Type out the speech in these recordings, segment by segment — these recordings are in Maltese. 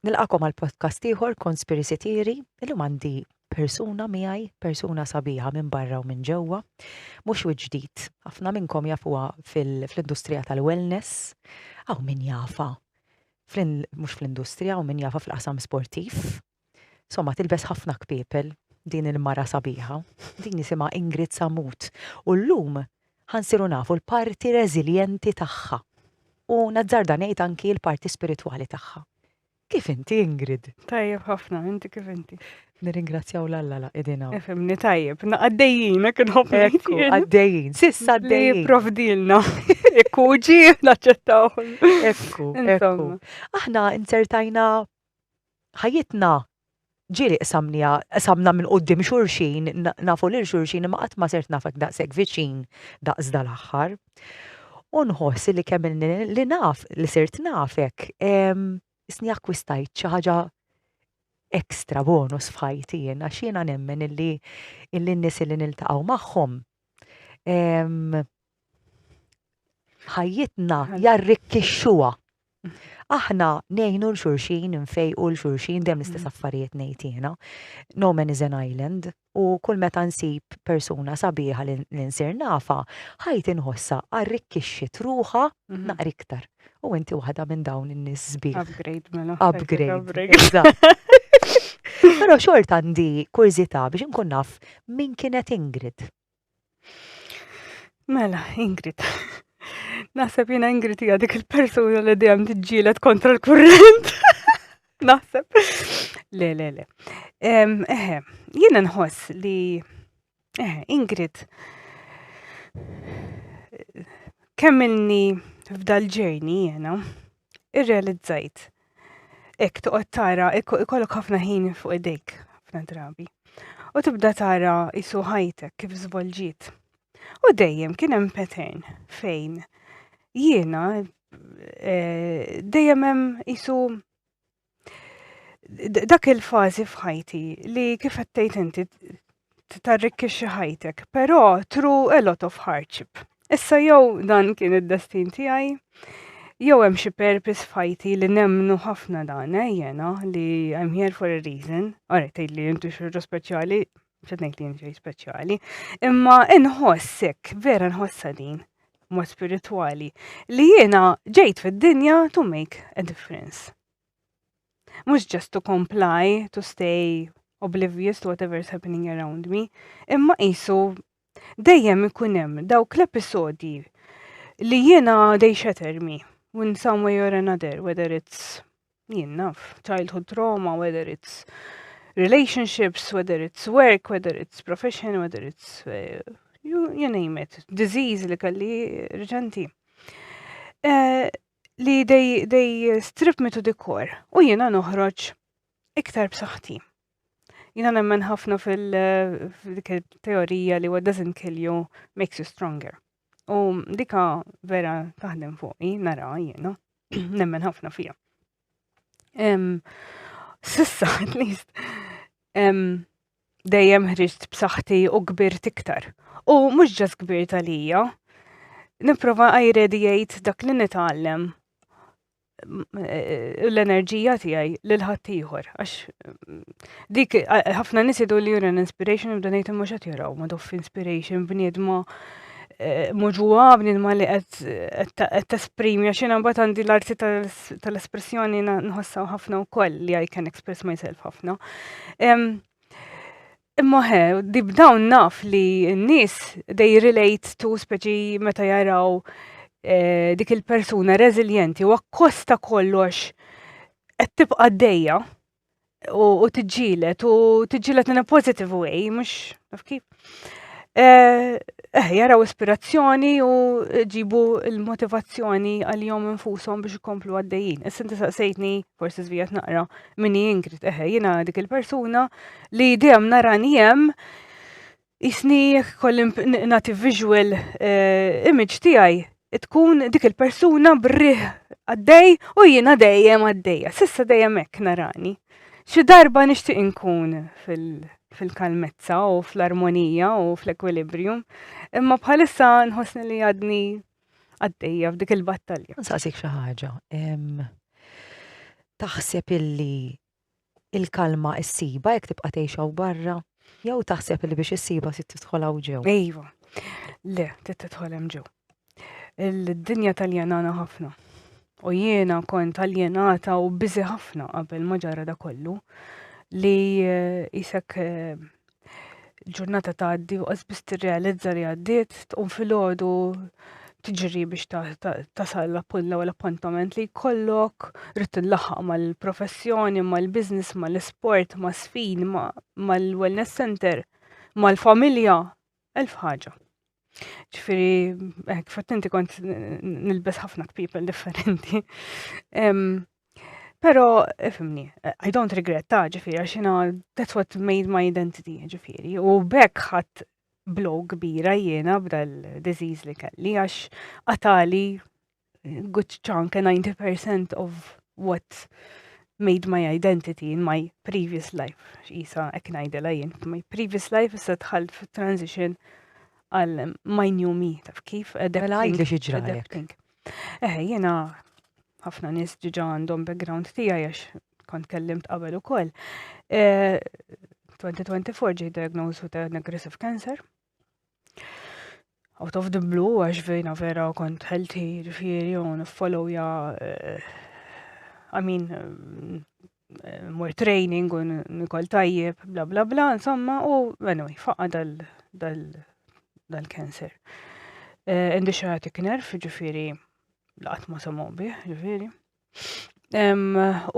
Nilqakom għal podcast ieħor Conspiracy Theory, illum għandi persuna miegħi, persuna sabiħa minn barra u minn ġewwa, mhux wiċċ ġdid. Ħafna minnkom jafuha fl-industrija tal-wellness, aw min jafa mhux fl-industrija u min jafa fil-qasam sportiv. Somma tilbes ħafna kpiepel din il-mara sabiħa, din jisimha Ingrid Samut. U llum ħa nsiru nafu l-parti reżiljenti tagħha u nazzarda ngħid anki l-parti spiritwali tagħha. Kif inti Ingrid? Tajjeb ħafna, inti kif inti? Nirringrazzjaw l-Alla la idina. Efemni tajjeb, għaddejjin, hekk nħobbu. Ekku, għaddejjin, sissa għaddejjin. Provdilna, ekku ġi, naċċettaw. Ekku, ekku. Aħna insertajna ħajjitna ġieli qsamniha, qsamna minn quddiem xulxin, nafu lil xulxin imma qatt ma sirt nafek daqshekk viċin daqs dal-aħħar. U nħoss li kemm ilni li naf li sirt nafek, isni akkwistajt xi ħaġa extra bonus f'ħajti jien għax jiena nemmen illi illi n-nies illi niltaqgħu magħhom ħajjitna jarrikkixxuha. Aħna ngħinu l xulxin, nfejqu l xulxin, dem l-istess mm. affarijiet ngħidina. No man is an island u kull meta nsib persuna sabiħa li nsir nafa, ħajt inħossa arrikkixxi truħa mhm. naqri iktar. U inti waħda minn dawn in-nies sbieħ. Upgrade mela. Upgrade. Però xorta għandi kurżità biex inkun naf min kienet Ingrid. Mela, Ingrid. Naħseb jina Ingrid hija dik il-persuna li dejjem tiġġielet kontra l-kurrent. Naħseb. Le, le, le. Eħe, jina nħoss li eħe, Ingrid kemmilni f'dal-ġejni jena irrealizzajt Ek toqgħod tara, ikollok ħafna ħin fuq idejk ħafna drabi. U tibda tara isu ħajtek kif żvolġiet. U dejjem kien hemm pattern fejn jiena eh, dejjem hemm isu dak il-fażi f'ħajti li kif qed inti tarrikkixxi ħajtek, però tru a lot of hardship. Issa jew dan kien id-destin tiegħi, jew hemm xi purpose fajti li nemmnu ħafna dan, eh, jena, li I'm here for a reason, għara tgħid li jintu xorta speċjali, ċednejt li jintu speċjali, imma nħossek, vera nħossa din, mod spirituali, li jena ġejt fid-dinja to make a difference. Mhux just to comply, to stay oblivious to whatever is happening around me, imma qisu dejjem ikun hemm dawk l-episodji li jiena they shatter me in some way or another, whether it's jien naf, childhood trauma, whether it's relationships, whether it's work, whether it's profession, whether it's uh, you, you name it, disease li kalli reġenti. Uh, li they, they strip me to the core u jiena noħroġ iktar b'saħħti. Jiena nemmen ħafna fil-teorija li what doesn't kill you makes you stronger. U dika vera taħdem fuqi, nara jiena, nemmen ħafna fija. Sissa, at least, Dejjem ħriġt b'saħħti u kbirt iktar. U mhux ġas kbirt għalija. Nipprova għajredi jgħid dak li nitgħallem Eh, l-enerġija tiegħi lil ħaddieħor għax mm, dik eh, ħafna nies idu li jura inspiration u donate mhux qed jaraw ma doff inspiration bniedma Eh, mhux huwa bniedma li qed tesprimi għax jiena mbagħad għandi l-arti tal-espressjoni nħossaw ħafna wkoll li I can express myself ħafna. Imma he, dib dawn naf li n-nies they relate to speċi meta jaraw eh, dik il-persuna reżiljenti u akkosta kollox qed tibqa' dejja u tiġġielet u tiġġielet in a positive way, mhux naf kif. Eh, eh jaraw ispirazzjoni u ġibu l-motivazzjoni għal jom infushom biex ikomplu għaddejjin. Issa inti saqsejtni, forsi żvijat naqra, minni Ingrid, eh jiena dik il-persuna li dejjem nara njem Isni jekk kolli nagħti visual eh, image tiegħi tkun dik il-persuna brih għaddej u jiena dejjem għaddejja. Sissa dejjem hekk narani. Xi darba nixtieq inkun fil-kalmezza u fl-armonija u fl-ekwilibrium, imma bħalissa nħossni li għadni għaddejja f'dik il-battalja. Nsaqsik xi ħaġa. Taħseb illi il-kalma issibha jekk tibqa' tgħix hawn barra? Jew taħseb li biex issibha se tidħol hawn ġew? Iva. Le, trid tidħol hemm ġew. Il-dinja tal-jenana ħafna. U jiena kont tal-jenata u biżi ħafna qabel ma ġara da kollu li jisek eh, eh, il-ġurnata tgħaddi u qasbis tirrealizza li għaddiet, tqum filgħodu tiġri biex tasal l-appunt l-ewwel appuntament li jkollok, rrid tillaħħaq mal-professjoni, mal-business, mal-isport, ma' sfin, mal-wellness center, mal-familja, elf ħaġa. Ġifiri, eh, kif inti kont nilbes ħafna people differenti. Pero, ifimni, I don't regret ta' ġifiri, għaxina, that's what made my identity, ġifiri. U bekk ħat blow kbira jiena b'dal disease li kelli, għax għatali good chunk, a 90% of what made my identity in my previous life. Isa, ek najdela jien, my previous life issa tħalt fit transition għal my new me, taf kif? Mela għajt li xieġra għalek. Eh, jena, ħafna nis ġiġa għandhom background tija jax kont kellimt qabel u koll. 2024 eh, ġi diagnosed with an aggressive cancer. out of the blue, għax vejna vera kont healthy, ġifiri, u follow ja, eh, I mean, eh, more training u nikol tajjeb, bla bla bla, insomma, u anyway, faqqa dal-cancer. Eh, indi xaħatik nerf, ġifiri, laqat ma samaw bih, ġifiri.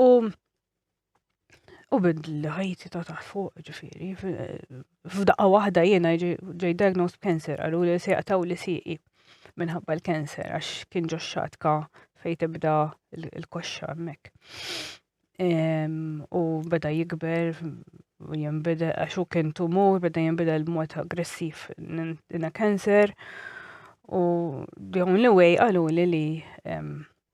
U U bidli ħajti ta' ta' fuq ġifiri, f'daqqa waħda jiena ġej diagnosed cancer, għallu li se jaqtaw li siqi minħabba l-cancer, għax kien ġo xatka fej tibda l-koxxa mek. U beda jikber, u jimbeda, għax u kien tumur, beda jimbeda l-mod aggressiv in cancer. U dawn li wej għallu li li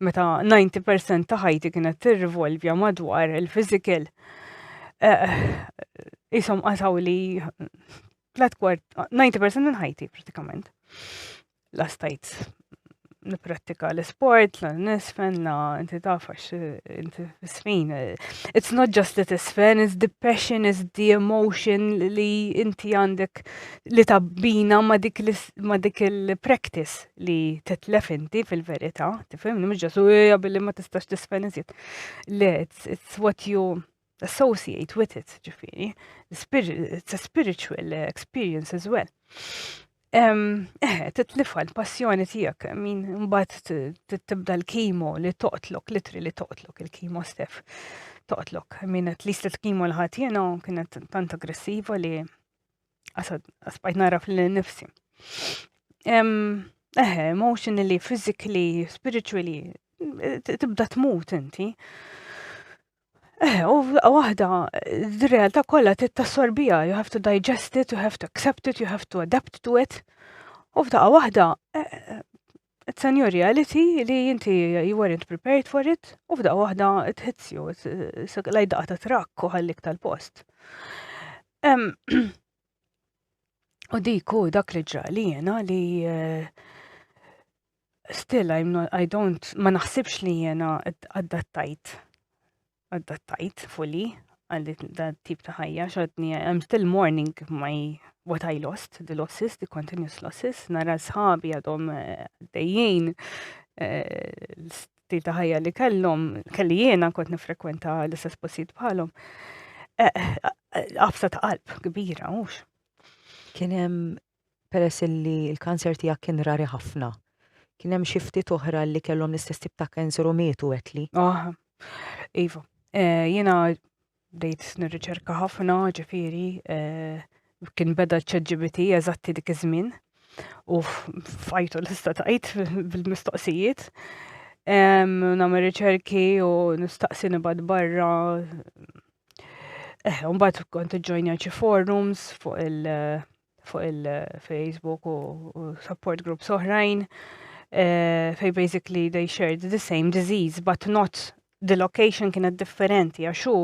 meta 90% ta' ħajti kienet tirrivolvja madwar il-physical, eh, jisom qasaw li tlet kwart, 90% minn ħajti pratikament. La stajt niprattika l-sport, la nisfen, la inti tafax, inti sfin. It's not just that it's fun, it's the passion, it's the emotion li inti għandek li tabbina ma dik il-practice li titlef inti fil-verità, tifhimni mhux ġasu hija billi ma tistax tisfen iżjed. Le, it's, it's what you associate with it, ġifieri. It's a spiritual experience as well. Eh, titlifa l-passjoni tijak, min mbat tibda l-kimo li toqtlok, litri li toqtlok il-kimo stef. Toqtlok, min at least il-kimo l-ħatjena kienet tant aggressiva li Għasbajt naraf li nifsi. Eħe, emotionally, physically, spiritually, tibda tmut inti. Eh, u waħda, d-realtà kollha tittassorbija, you have to digest it, you have to accept it, you have to adapt to it. U f'daqqa waħda, eh, It's a new reality li inti you weren't prepared for it u f'daqqa waħda it hits you, laj daqqa ta' trakk u ħallik tal-post. U diku dak li ġra li jena li eh, still I'm not, I don't, ma naħsibx li jena għaddattajt Adattajt fully għal dan tip ta' ħajja xodni I'm still mourning my what I lost, the losses, the continuous losses, nara sħabi għadhom eh, dejjien eh, l-stil ta' ħajja li kellhom, kelli jiena kont nifrekwenta l-istess postijiet bħalhom. Eh, Għafsa ta' qalb kbira, mhux. Kien hemm peress illi l-kanser tiegħek kien rari ħafna. Kien hemm xi ftit oħra li kellhom l-istess tip ta' kanser u mietu għedtli. Ah, iva. Eh, jiena bdejt nirriċerka ħafna, ġifieri, eh, kien beda ċ-ChatGPT eżatti dik iż-żmien u fajtu l-ista tajt bil-mistoqsijiet. Nagħmel riċerki u nistaqsi nibad barra. Eh, mbagħad kont iġġojnja xi forums fuq il- fuq il-Facebook u support groups oħrajn eh, fej basically they shared the same disease but not the location kienet differenti għax hu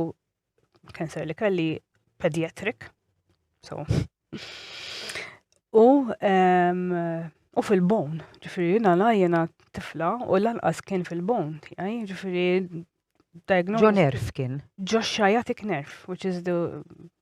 cancer li kelli pediatric. So. u um, u fil-bon, ġifiri jina la jena tifla u l-anqas kien fil-bon, tijaj, ġifiri diagnosis. Ġo nerf kien. Ġo xajatik nerf, which is the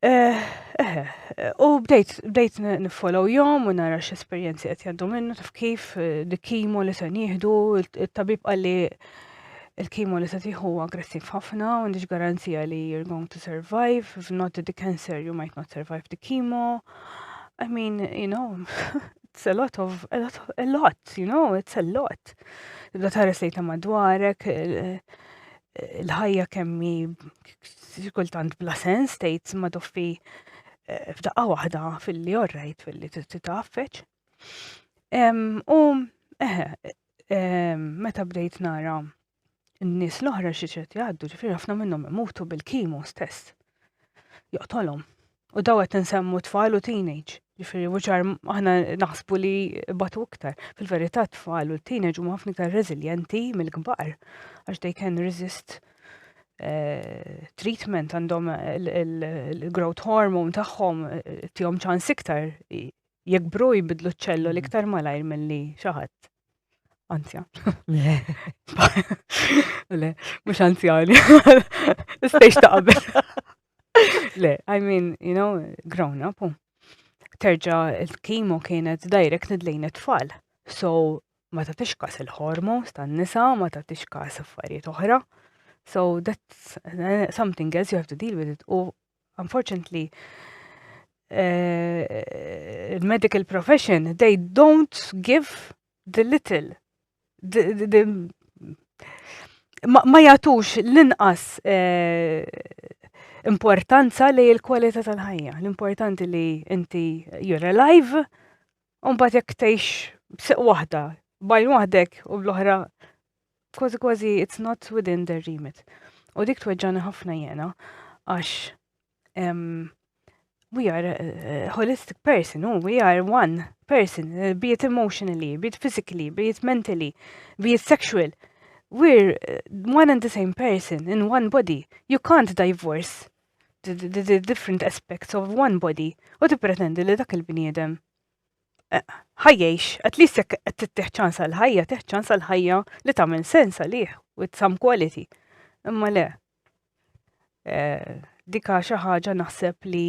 Eh, eh, eh, u bdejt, bdejt nifollow jom u nara x'esperjenzi qed jgħaddu minnu taf kif eh, li kimo li se nieħdu, il-tabib qalli il-kimo li se tieħu aggressiv ħafna u għandix garanzija li you're going to survive, if not the cancer you might not survive the chemo. I mean, you know, it's a lot of, a lot, a lot you know, it's a lot. Tibda tares li ta' madwarek, eh, l-ħajja kemmi kultant bla sens tgħid ma toffi eh, f'daqqa waħda fil-li orrejt fil-li titaffeċ. U eħe, meta bdejt nara n-nies l-oħra xi ċed jgħaddu, ġifieri ħafna minnhom imutu bil-kimo stess. Joqtolhom. U daw qed nsemmu tfal u teenage. Ġifieri wuċar aħna naħsbu li batu iktar. Fil-verità tfal u teenage huma ħafna iktar reżiljenti mill-kbar għax they can resist eh, treatment għandhom il-growth hormone tagħhom eh, tihom ċans iktar jikbru jibidlu ċ-ċellol iktar malajr milli xi ħadd anzjan. Le. Le, mux anzjani. Istejx ta' qabel. Le, I mean, you know, grown up. Terġa il-kimo kienet direct nidlejn it-tfal. So, ma ta' tixkas il-hormones tan nisa, ma ta' tixkas affarijiet oħra. So, that's eh, something else you have to deal with it. U unfortunately, uh, medical profession, they don't give the little. The, the, the, ma, ma jatux l-inqas uh, importanza li l-kwalità tal-ħajja. L-importanti li inti you're alive, un bat jek tgħix b'siq waħda, bajn waħdek u bl-oħra kważi kważi it's not within their remit. U dik tweġġani ħafna jena, għax we are a holistic person, oh, we are one person, uh, be it emotionally, be it physically, be it mentally, be it sexual. We're uh, one and the same person in one body. You can't divorce the, the, the different aspects of one body u ti pretendi li dak il-bniedem ħajjiex, at least jekk qed tittieħ ċans għal ħajja, tieħ ċans għal ħajja li tagħmel sens għalih with some quality. Imma le. Eh, dika xi ħaġa naħseb li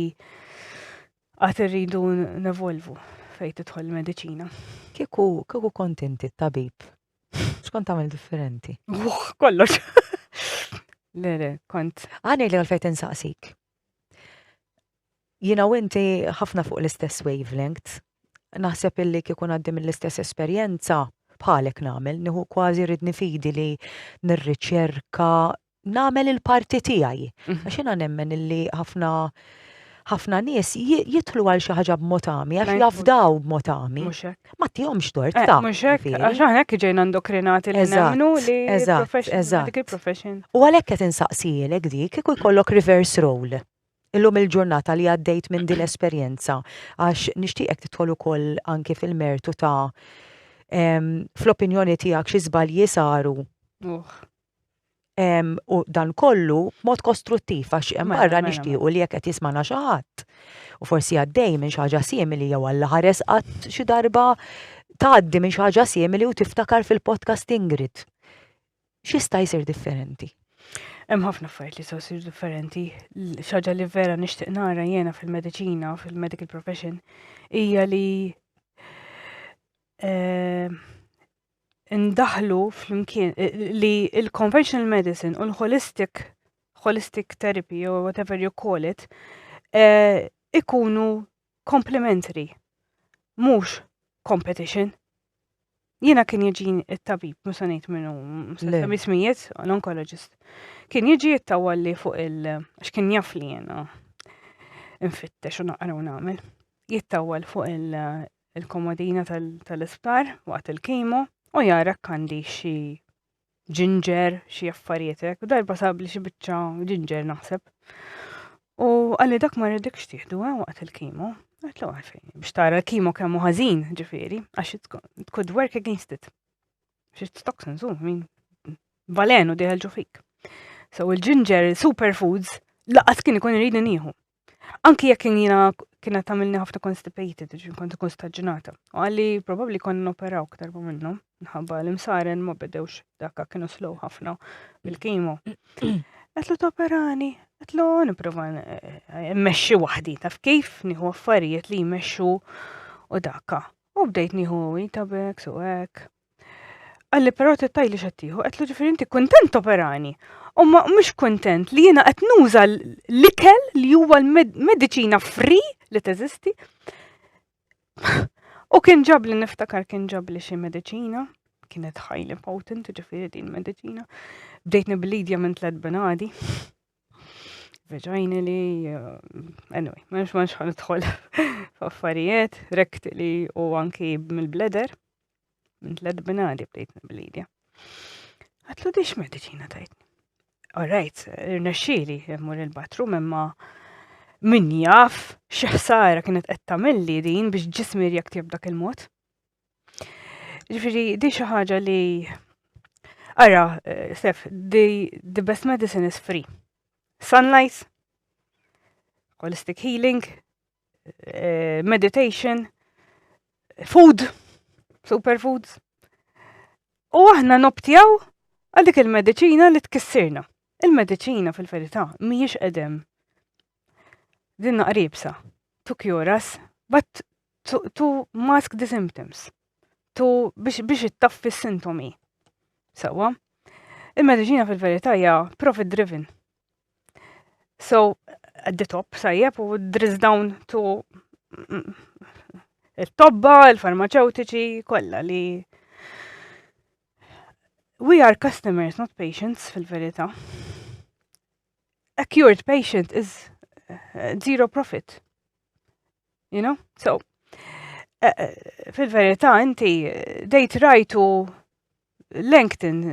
għad irridu nevolvu fejn tidħol il-mediċina. Kieku kieku kontenti tabib. X'kont tagħmel differenti? Kollox. Le, le, kont. Għani li għalfejn insaqsik. Jiena u inti ħafna fuq l-istess wavelength. Naħseb illi kieku ngħaddi mill-istess esperjenza, bħalek nagħmel, nieħu kważi ridni fidi li nirriċerka, nagħmel il-parti tiegħi. Għax jiena nemmen illi ħafna ħafna nies jidħlu għal xi ħaġa b'mod għami għax jafdaw b'mod għami. Mhux hekk. Ma tihomx tort eh, ta'. Mhux hekk, għax aħna hekk ġejna ndokrinati li nemmnu li eżatt, eżatt. U għalhekk qed insaqsielek dik kieku jkollok reverse role. illum il-ġurnata li għaddejt minn din l-esperjenza għax nixtieqek tidħol ukoll anki fil-mertu ta' fl-opinjoni tiegħek xi żbalji saru. U dan kollu mod kostruttiv għax hemm mela, barra mela, nixtiequ mela. li jekk qed jismana xi ħadd u forsi għaddej minn xi ħaġa simili jew għalla ħares qatt xi darba tgħaddi minn xi ħaġa simili u tiftakar fil-podcast Ingrid x'jista' jsir differenti? Hemm ħafna affarijiet li jistgħu jsir differenti. Xaġa li vera nixtieq nara jiena fil-mediċina, fil-medical profession, hija li eh, ndaħlu flimkien eh, li il-conventional medicine u l-holistic holistic therapy or whatever you call it eh, ikunu complementary, mhux competition. Jiena kien jiġin it-tabib, mhux se ngħid minnu, se ismijiet, l-onkologist. Kien jiġi jittawalli fuq il- għax kien jaf li jiena infittex u naqra u nagħmel. Jittawal fuq il-komodina tal-isptar waqt il-kimo u jara kandi xi ġinġer, xi affarijiet hekk, u darba sabli xi biċċa ġinġer naħseb. U għalli dak ma rridek xtiħdu eh, waqt il-kimo. Għatlu għalfejn, biex tara l-kimo kemmu ħażin ġifiri, għax it could work against it. Xi toxins, u min balenu diħelġu fik. So il-ġinġer, superfoods, laqas kien ikun rridu nieħu. Anki jekk jiena kienet tagħmilni ħafna constipated, ġin kont ikun staġġinata. U għalli probabbli kon noperaw aktar ma minnu, nħabba l-imsaren ma bedewx dakka kienu slow ħafna bil-kimo. Għetlu toperani, għetlu niprofa eh, mmexxi waħdi, taf kif nieħu affarijiet li jmexxu u dakka. U bdejt nieħu itabek, suwek, Għalli però tittaj li xattiħu, għetlu ġifiri inti kontent operani. U ma mux kontent li jena għet nuża l-ikel li huwa l-medicina free li teżisti. U kien ġab li niftakar kien ġab li xie medicina, kienet highly potent ġifiri din medicina. Bdejt niblidja minn tlet benadi. Veġajni li, uh, anyway, ma nix ma nix ħanitħol f'affarijiet, rekti li u anki mill-bleder. Minn tlet binadi bdejt nibblidja. Għatlu dix medicina tajtni. Alright, irnexxili immur il-bathroom imma min jaf x'ħsara kienet qed tagħmilli din biex ġismi rjakti b'dak il-mod. Ġifieri di xi ħaġa li ara eh, sef the, the best medicine is free. Sunlight, holistic healing, eh, meditation, food, superfoods. U aħna noptjaw għal dik il-medicina li tkissirna. Il-medicina fil-verità mhijiex edem. Dinna qribsa. To cure us, but to, to mask the symptoms. To biex, biex ittaffi s-sintomi. Sawa? Il-medicina fil-verità hija profit driven. So, at the top, sajjeb, u drizz down to il-tobba, il-farmaceutiċi, kolla li we are customers, not patients fil-verita. A cured patient is uh, zero profit. You know? So, uh, uh, fil-verita inti dejt rajtu Langton,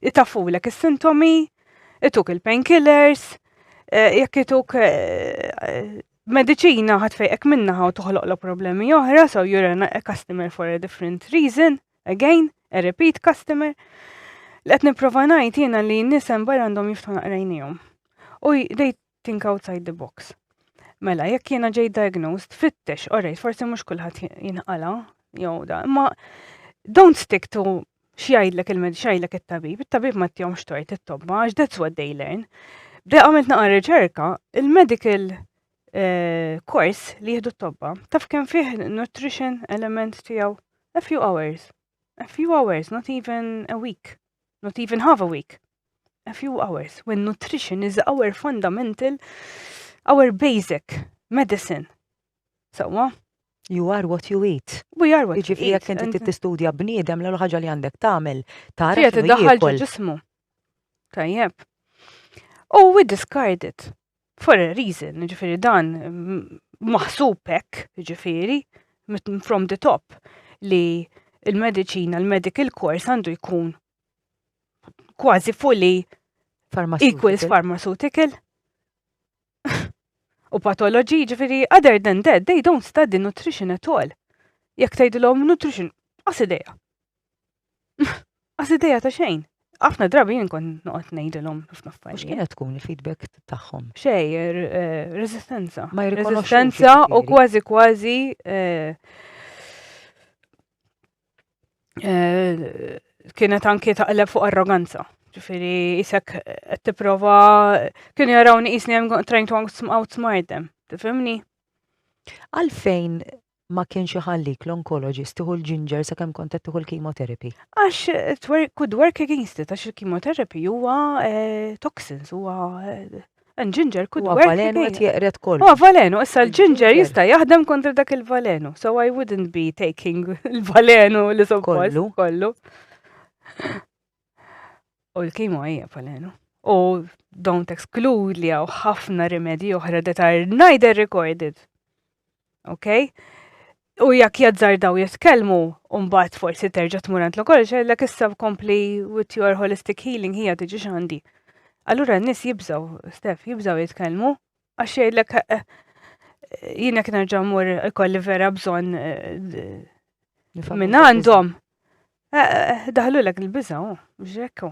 itafulek is-sintomi, ituk il-painkillers, jekk ituk mediċina ħadd fejqek minnaħa u toħloqlok problemi oħra, so you're a customer for a different reason, again, a repeat customer. Li qed nipprova ngħid jiena li nisem barra għandhom jiftu naqrajnijom. U they think outside the box. Mela, jekk jiena ġej diagnosed, fittex, orrejt, forsi mhux kulħadd jinħala, jew da, imma don't stick to xjajdlek il-med, xjajdlek il-tabib, il-tabib ma t-tjom xtojt il-tobba, għax that's what they learn. Bde għamilt naqra riċerka, il-medical eh, course li jihdu t-tobba, taf kem fih nutrition element tijaw, a few hours, a few hours, not even a week, not even half a week, a few hours when nutrition is our fundamental, our basic medicine. Sawa? You are what you eat. We are what you eat. Ġifri jek inti tistudja bniedem l ħaġa li għandek tagħmel tara. Qiegħed iddaħħal ġo ġismu. Tajjeb. U oh, we discard it for a reason, ġifiri dan maħsubek, ġifiri, from the top, li il-medicina, il-medical course għandu jkun kważi fully equals pharmaceutical u patologi, ġifiri, other than that, they don't study nutrition at all. Jek tajdilom nutrition, għasideja. Għasideja ta' xejn. Għafna drabi jien kon noqgħod ngħidilhom ħafna affarijiet. X'kiena tkun il-feedback tagħhom? Xej, er, eh, resistenza. Ma jirrikonoxxu. Resistenza u kważi kważi eh, eh, kienet anki taqleb fuq arroganza. Ġifiri, jisek qed tipprova kienu jarawni jisni I'm trying to outsmart them. Tifhimni? Għalfejn ma kienx iħallik l-onkologist tiħu l-ġinġer sa kemm kont qed tiħu l-chemotherapy? Għax eh, could work against it, għax il-chemotherapy huwa eh, toxins, huwa eh, And ginger could Huwa work valenu qed again. jeqred kollu. Huwa valenu, issa l-ginger Il-ginger. jista' jaħdem kontra dak il-valenu. So I wouldn't be taking il-valenu li suppost Kollu. kollu. U l-kimo hija valenu. U don't exclude li hawn ħafna rimedji oħra that are neither recorded. Okay? U jekk jazzardaw jitkellmu, mbagħad forsi terġa' tmur għand l-okol xellek issa kompli with your holistic healing hija tiġi x'għandi. Allura n-nies jibżaw, Stef, jibżaw jitkellmu għax jgħidlek eh, eh, jien jekk nerġa' mmur ikolli vera bżonn eh, minn għandhom. Daħlu lek il-biżaw, ġekku.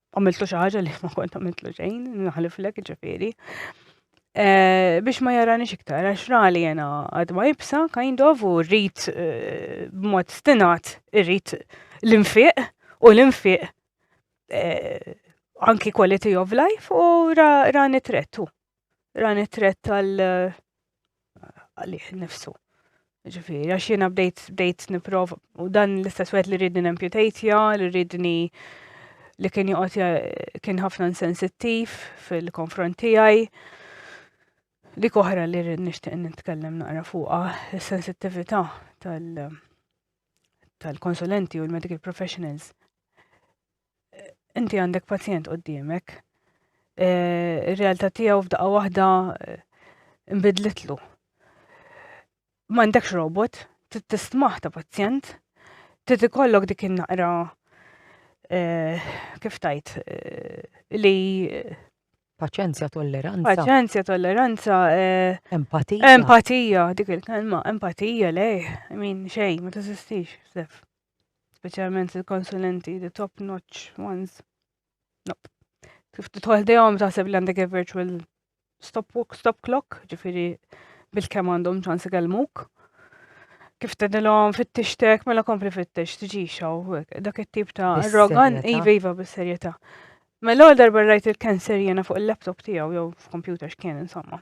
għamiltu xi ħaġa li ma kont għamiltu xejn, naħliflek ġifieri. Eh, biex ma jarani xiktar, għax rali jena għadma jibsa, kind of, u rrit eh, b'mod stinat, rrit l-infiq, u l-infiq eh, anki quality of life, u rani trettu. ran it-tret tal għalih nifsu. Ġifiri, għax jena bdejt bdejt niprov u dan l-istess wet li rridni nemputatja, li rridni li kien joqgħod kien ħafna insensittiv fil-konfront tiegħi. Dik oħra li rrid nixtieq nitkellem naqra fuqha is-sensittività tal- tal-konsulenti u l-medical professionals inti għandek pazjent qoddimek, eh, ir-realtà tiegħu f'daqqa waħda eh, nbidlitlu. Ma għandekx robot, tistmaħ ta' pazjent, trid ikollok dik in-naqra eh, kif tajt li Paċenzja, tolleranza. Paċenzja, tolleranza. Eh, empatija. Empatija, dik il-kelma, empatija, lej, min xej, ma t-sistix, sef. Speċjalment il-konsulenti, the top notch ones. Nope. Kif titħol dejhom taħseb li għandek virtual stop, stop clock, ġifiri bil-kem għandhom ċans ikellmuk. Kif tedilhom fit-tixtek, mela kompli fit-tix, tiġixaw, dak it-tip ta' rogan, iva iva bis-serjetà. Mela għal darba rajt il-cancer jena fuq il-laptop tiegħu jew f'kompjuter x'kien insomma.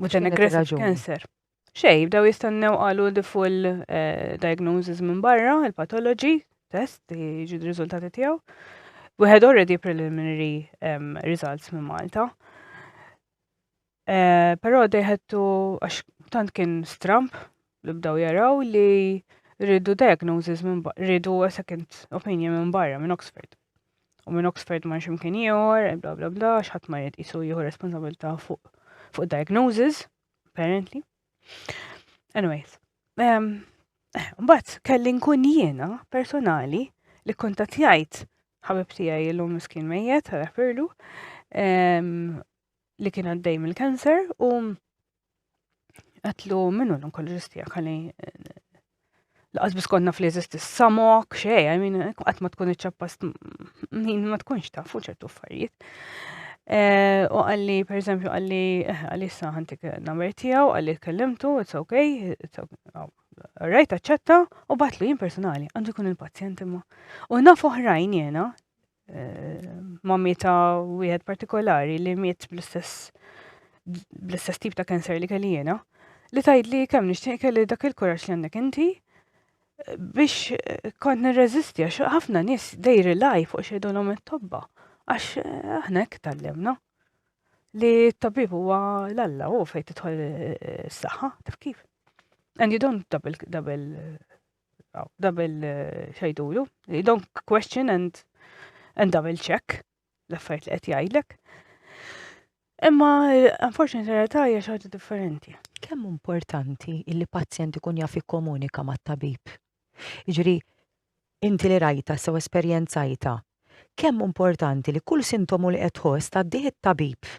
Mhux aggressive cancer. Xej, bdew jistennew qalu the full eh, diagnosis minn barra, il-pathology test, jiġu d-riżultati tiegħu. We had already preliminary um, results minn Malta. Uh, eh, Pero they had to, għax tant kien stramp, li bdew jaraw li rridu diagnosis minn barra, rridu second opinion minn barra minn Oxford. U minn Oxford ma ximkien ieħor, bla bla bla, x'ħadd ma jrid jisu jieħu responsabilità fuq fuq diagnosis, apparently. Anyways, um, mbagħad kelli nkun jiena personali li kontattjajt ħabib tiegħi illum miskin mejjet, ħafirlu, um, li kien għaddej mill-kanser u Għatlu minnu l-onkoloġistija għalli laqas bis konna fl-eżist samok, xej, għamin, għat ma tkun iċċappast, min ma tkunx ta' fuq ċertu affarijiet. Eh, u għalli, per eżempju, għalli, eh, għalli saħantik namer tijaw, għalli kellimtu, it's okay, it's okay, rajta ċetta u batlu jien personali, għandu kun il-pazjent imma. U naf oħrajn jena, eh, mammi ta' wieħed partikolari li miet bl-istess bl-istess tip ta' kanser li kelli jiena, li tajd li kemm nixtieq kelli dak il-kuraġġ li għandek inti biex eh, kont nirreżisti għax ħafna nies they rely fuq xejdulhom it-tobba għax eh, aħna hekk tallimna li t-tabib huwa l-alla u fejn tidħol eh, s-saħħa taf kif. And you don't double double Double eh, xajdulu. You don't question and, and double check l-affarijiet li qed jgħidlek. Imma eh, unfortunately realtà hija xi differenti. Kemm importanti li pazjent ikun jaf ikkomunika mat-tabib? Jiġri, inti li rajta sew esperjenzajta, kemm importanti li kull sintomu li qed tħoss tgħaddih it-tabib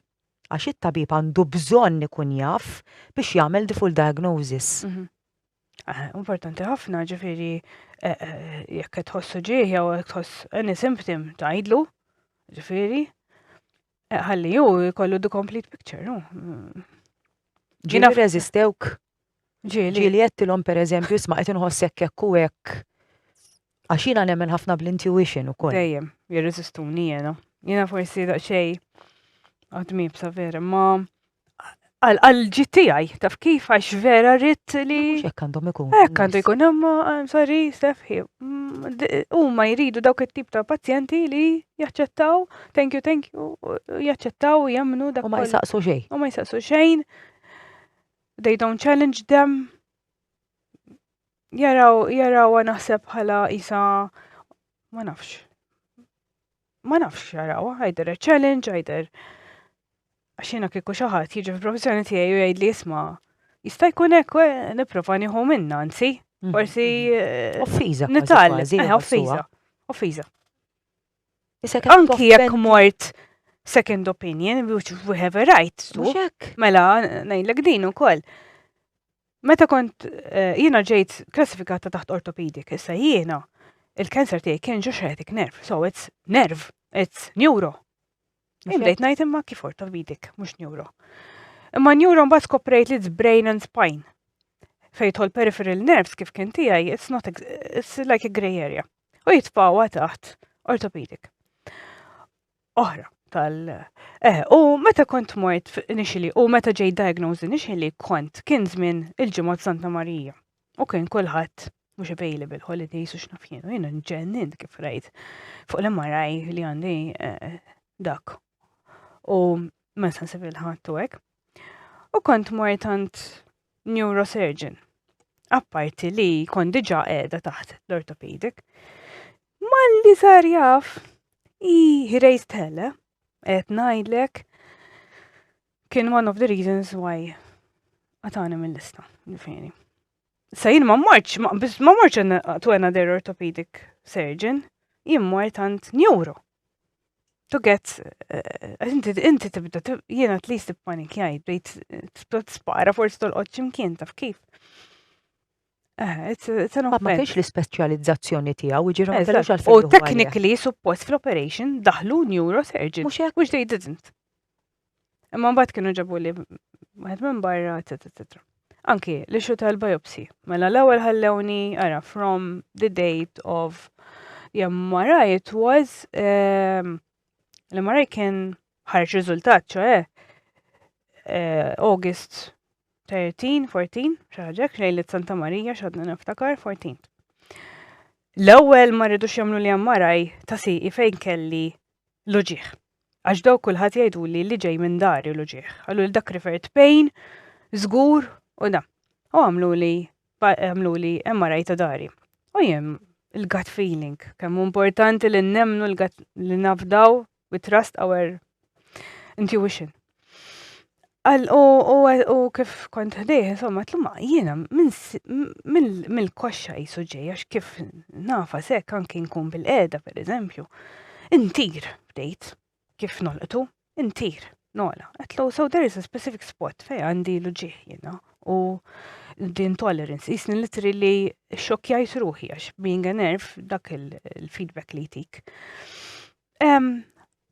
għax it-tabib għandu bżonn ikun jaf biex jagħmel the full diagnosis. Mhm. Eh, importanti ħafna ġifiri eh, eh, jekk tħossu ġieħ jew jekk tħoss any symptom tgħidlu, ġifiri. Ħalli ju jkollu the complete picture, no? Mm. Ġina rezistewk. Ġili. Ġili jettilom per eżempju, isma qed inħossek hekk u hekk. Għax jiena nemmen ħafna bl-intuition ukoll. Dejjem, jirreżistuni jiena. Jiena forsi daqsxejn għadmib sa vera, ma għal-ġit tijaj, taf kif għax vera rrit li. Xek għandhom ikun. Ek għandu jkun, imma, I'm sorry, Stefhi, mm, u ma jridu dawk it-tip ta' pazjenti li jaċċettaw, thank you, thank you, jaċċettaw, jemnu dak. U ma jisaqsu xejn. U ma jisaqsu xejn, they don't challenge them, Jaraw, jarawha naħseb bħala isa ma nafx. Ma nafx jarawha, għajder challenge, għajder. Għax jiena kieku xi ħadd jiġi fil-professjoni tiegħi u jgħidli isma' jista' jkun hekk eh, nipprova nieħu minna anzi. Mhm. Forsi eh, Offiża. kważi, nitgħallem. kważi, Eh, jeħossuha. offiża. Offiża. Issa kemm Anki jekk toffendi- mort second opinion, which we have a right to. Mhux hekk. Mela, ngħidlek din ukoll. Meta kont eh, jiena ġejt klassifikata taħt orthopedic, issa jiena il-cancer tiegħi kien ġo sciatic nerve, so it's nerve, it's neuro. Jien bdejt ngħid imma kif orthopedic, mhux neuro. Imma neuro mbagħad skoprejt li it's brain and spine. Fejtħol peripheral nerves kif kien tiegħi, it's not it's like a grey area. U jitfawa taħt orthopedic. oħra tal eh u meta kont mort initially u meta ġej diagnosed initially kont kien żmien il-ġimgħa Santa Marija u kien kulħadd mhux available holidays u x'naf jien u jiena nġennin kif rajt fuq l-MRI li għandi eh, dak u ma nistax nsib il-ħadd u hekk. U kont mort għand neurosurgeon. Apparti li kont diġà qiegħda taħt l-orthopedic. Malli sar jaf, he, he raised hell, eh? Et najdlek, kien one of the reasons why għatani mill-lista, ġifiri. Sa jien ma morċ, ma morċ to another orthopedic surgeon, jien mort għand neuro. To get, eh, inti inti tibda, jien at least panik jgħid, bdejt eh, spara forsi tolqod ximkien taf kif. Eh, ma fiex l-ispeċjalizzazzjoni tiegħu, ġiru ma kellux għal U technically suppost fl-operation daħlu neurosurgeon. Mhux hekk which they didn't. Imma mbagħad kienu ġabu li wieħed minn barra, etc. Anki li xu tal-biopsi. Mela l-ewwel ħallewni ara from the date of jemmaraj it was ehm, l-MRI kien ħareġ riżultat, ċoħe, eh, August 13, 14, xaħġek, lejlet Santa Marija, xadna niftakar, 14. L-ewwel ma rridux jagħmlu li jammaraj ta' siqi fejn kelli l-uġieħ. Għax daw kulħadd jgħidu li li ġej minn dari l-uġieħ. Għallu li dak rifert pain, żgur u da. U għamlu li għamlu li jammaraj ta' dari. U jem il-gut feeling, kemm importanti li nemnu li nafdaw we trust our intuition. Għal, u, u, u kif kont ħdejh, insomma, tlumma, jiena mill-koxxa jisu ġej, għax kif nafa sekk anki nkun bil-qeda, per eżempju, intir, bdejt, kif nolqtu, intir, nola. Għatlu, so there is a specific spot fej għandi l-ġieħ jiena, u the intolerance, jisni litri li xokjajt ruħi, għax being a nerf, dak il-feedback li jtik.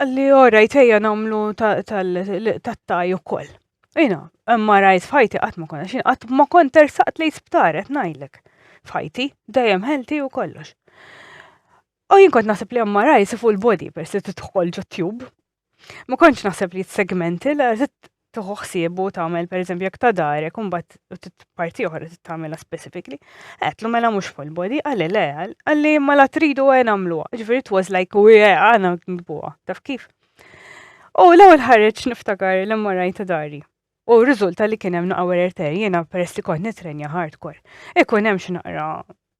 Li ora jtejja namlu tat-taj u koll. Ina, imma rajt fajti għat ma konna xin, għat ma kont tersaqt li sptar, għat najlek. Fajti, dajem helti u kollox. U jien kont nasib li għamma rajt full body per se titħol ġo tube. Ma kontx nasib li segmenti, la tieħu ħsieb u tagħmel pereżempju jekk ta' darek u mbagħad parti oħra tagħmilha specifically. Għetlu mela mhux full body, għalli le, għalli ma la tridu għen għamluha. Ġifieri it was like u għana nbuha, taf kif. U l-ewwel ħareġ niftakar l-MRI ta' dari. U riżulta li kien hemm naqawer erter jiena peress li kont nitrenja hardcore. Ikun hemm x'naqra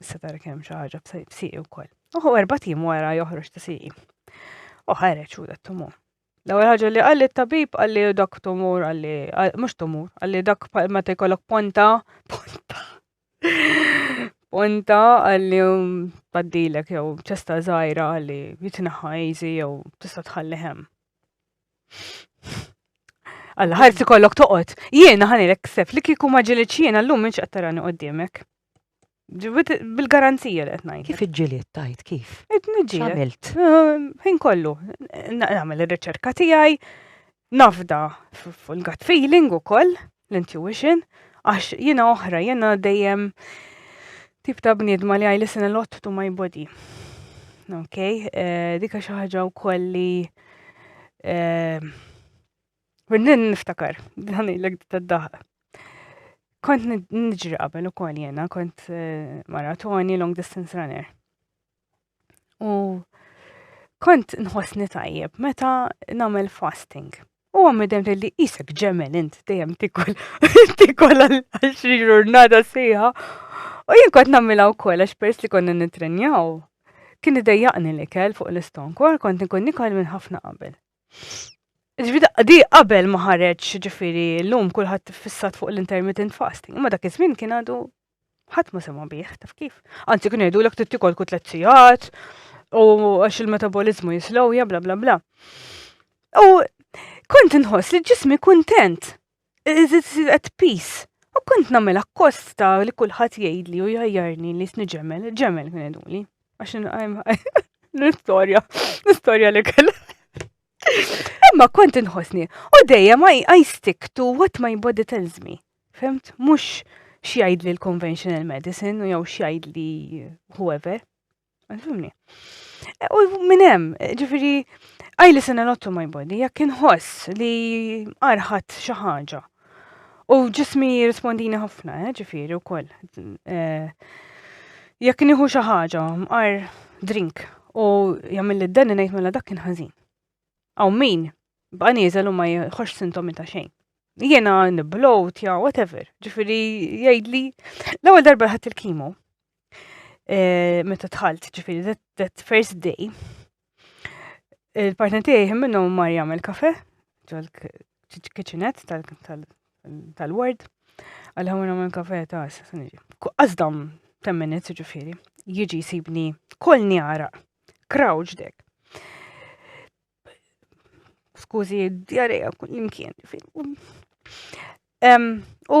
Issa tarek hemm xi ħaġa b'siqi wkoll. Uħu erba' tim wara joħroġ ta' siqi. U ħareġ u dat tumur. L-ewwel ħaġa li qal it-tabib qal li dak tumur qal li mhux tumur, qal li dak meta jkollok ponta, ponta. Ponta qal li paddilek jew ċesta żgħira qal li jitneħħa easy jew tista' tħalli hemm. Alla ħarsi kollok toqgħod. Jiena ħanilek ksef li kieku ma ġilitx jiena llum minn x'qed tarani qudiemek. Bil-garanzija li qed ngħid. Kif iġġiliet tajt kif? Qed niġġieled. Għamilt. Ehm, ħin kollu. Nagħmel ir-riċerka tiegħi, nafda full gut feeling ukoll, l-intuition, għax jiena oħra, jiena dejjem tip ta' bniedma li għaj listen a lot to my body. Ok, eh, dika xi ħaġa wkoll li eh, Kullin niftakar, ħanilek t-daħq. Kont nġri qabel u kol jena, kont eh, maratoni, long distance runner. U kont nħosni tajjeb meta namel fasting. U għammi dem li jisek ġemel int dejjem tikol, tikol għal-xri ġurnata sejħa. U jien kont namela u kol għax pers li konna nitrenjaw. Kien idejjaqni li kell fuq l-iston, kol kont nikun nikol minn ħafna qabel. Ġvida, di qabel ma ħareġ ġifiri l-lum kullħat fissat fuq l-intermittent fasting, imma dak iż-żmien kien għadu ħadd ma sema bih, taf kif. Anzi kien jgħidu l trid tikol kut tliet sigħat u għax il-metabolizmu jislowja bla bla bla. U kont inħoss li ġismi kuntent Iżid pis. U kont nagħmel akkost ta' li kulħadd jgħidli u jajjarni li sni ġemel, ġemel kien iduli. Għax l-istorja, l-istorja li kell. Imma kont inħosni, u dejjem I stick to what my body tells me. Femt? Mux xjajd li l-conventional medicine u jew xjajd li whoever. Għalfimni. E, u minn hemm, ġifieri I listen a lot to my body, jekk inħoss li arħat xi ħaġa. U ġismi jirrispondini ħafna, eh, ġifieri wkoll. E, jekk nieħu xi ħaġa, mqar drink u jagħmel li d-dan ngħid mela dak kien ħażin. Aw min, bqa' nieżel u ma jħoss sintomi ta' xejn jena niblowt, ja, whatever. Ġifiri, jgħidli, l-ewwel darba ħadd il-kimo, Eh, meta tħalt, ġifiri, that, that first day, il-partner tiegħi minnu mar jagħmel kafe ġol-kitchenette tal-ward, għal ħawna minn kafe ta' s-sanġi. Għazdam 10 minutes ġifiri, jiġi sibni kol njara, krawġ dek. Skużi, djareja, kull imkien, ġifiri. U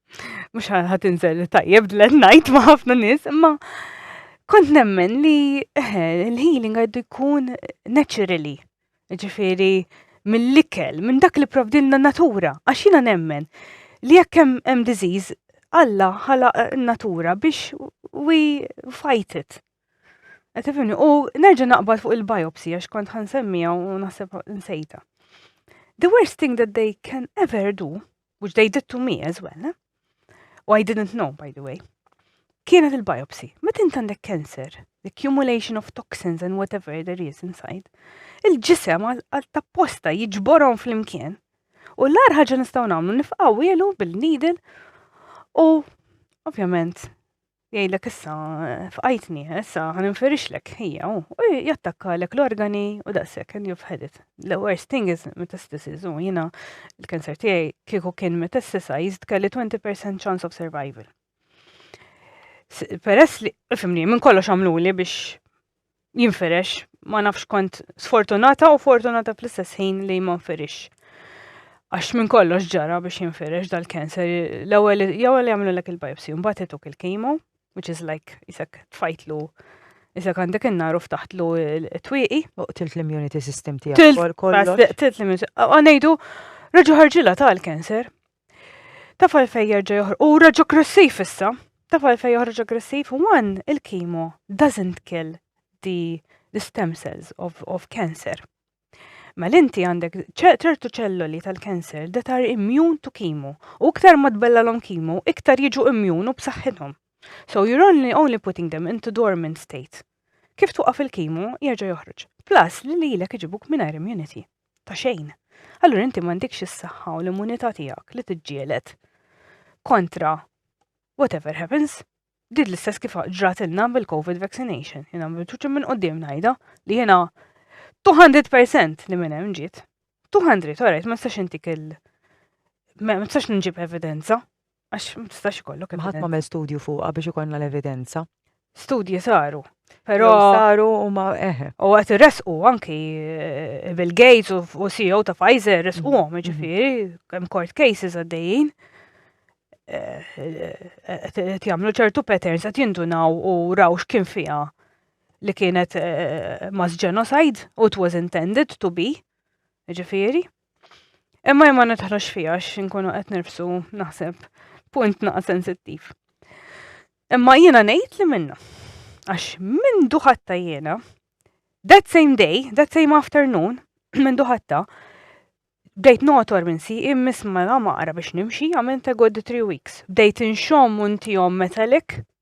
Mhux ħadd inżel tajjeb dlet ngħid ma' ħafna nies, imma kont nemmen li eh, l-healing għaddu jkun naturally. Ġifieri mill-ikel, minn dak li provdilna natura, għax jiena nemmen li jekk hemm hemm disease, Alla ħalaq eh, natura biex we fight it. Qed tifhimni? U nerġa' naqbad fuq il-biopsy għax kont ħansemmija u naħseb nsejta. The worst thing that they can ever do which they did to me as well, u I didn't know, by the way, kienet il-biopsy. Meta int għandek cancer, the accumulation of toxins and whatever there is inside, il-ġisem għal tapposta jiġborhom fl-imkien. U l-ar ħaġa nistgħu nagħmlu nifqgħu ilu bil-needle u ovvjament Jgħidlek issa fqajtni, issa ħa ninferixlek hija u jattakkalek l-organi u daqshekk and you've had it. The worst thing is metastasis u jiena l-kanser tiegħi kieku kien metastasized kelli 20% chance of survival. Peress li, fimni, minn kollox għamluli biex jinfirex, ma nafx kont sfortunata u fortunata fl-istess ħin li ma nfirix. Għax minn kollox ġara biex jinfirex dal-cancer, l-ewwel jawel jagħmlu lek il-biopsy, mbagħad ituk il-kimo, which is like isek tfajtlu Isek għandek innaru ftaħtlu t-twiqi. U tilt l-immunity system tiegħek. Tilt l-immunity. Għanejdu, raġu ħarġila tal-cancer. Taf għalfej jerġa' joħroġ. U reġa' aggressiv issa. Taf għalfej joħroġ aggressiv? One, il-kimo doesn't kill the, the stem cells of, of cancer. Mel inti għandek ċertu ċelloli tal-cancer that are immune to kimo. U iktar ma tbellalhom kimo, iktar jiġu immune u b'saħħithom. So you're only, only putting them into dormant state. Kif tuqaf il-kimo, jerġa' joħroġ. Plus li lilek iġibuk mingħajr immunity. ta' xejn. Allura inti m'għandikx is-saħħa u l-immunità tiegħek li tiġġieled kontra whatever happens. Did l-istess kif ġrat ilna bil-COVID vaccination, jina bil-ċuċi minn qoddim najda li jina 200% li minn hemm ġiet. 200, orajt, ma nistax intik il- ma nistax nġib evidenza, Għax ma tistax ikollok. Ma ħadd ma għamel studju fuqha biex ikollna l-evidenza. Studji saru. Però saru u ma eħe. Eh. U għat resqu anki eh, Bill Gates u CEO ta' Pfizer resqu għom, mm-hmm. ġifiri, kem court cases għaddejjin. Għat eh, jamlu ċertu patterns għat jindunaw u raw x'kien fija li kienet mass genocide u it was intended to be, ġifiri. Imma jma nitħlox fija xinkunu qed nirfsu naħseb punt naqa sensittiv. Imma jiena ngħid li minna. Għax minn duħatta jiena, that same day, that same afternoon, minn duħatta, bdejt notor minn si immis mela maqra biex nimxi għamilt a good three weeks. Bdejt inxom untijom metallic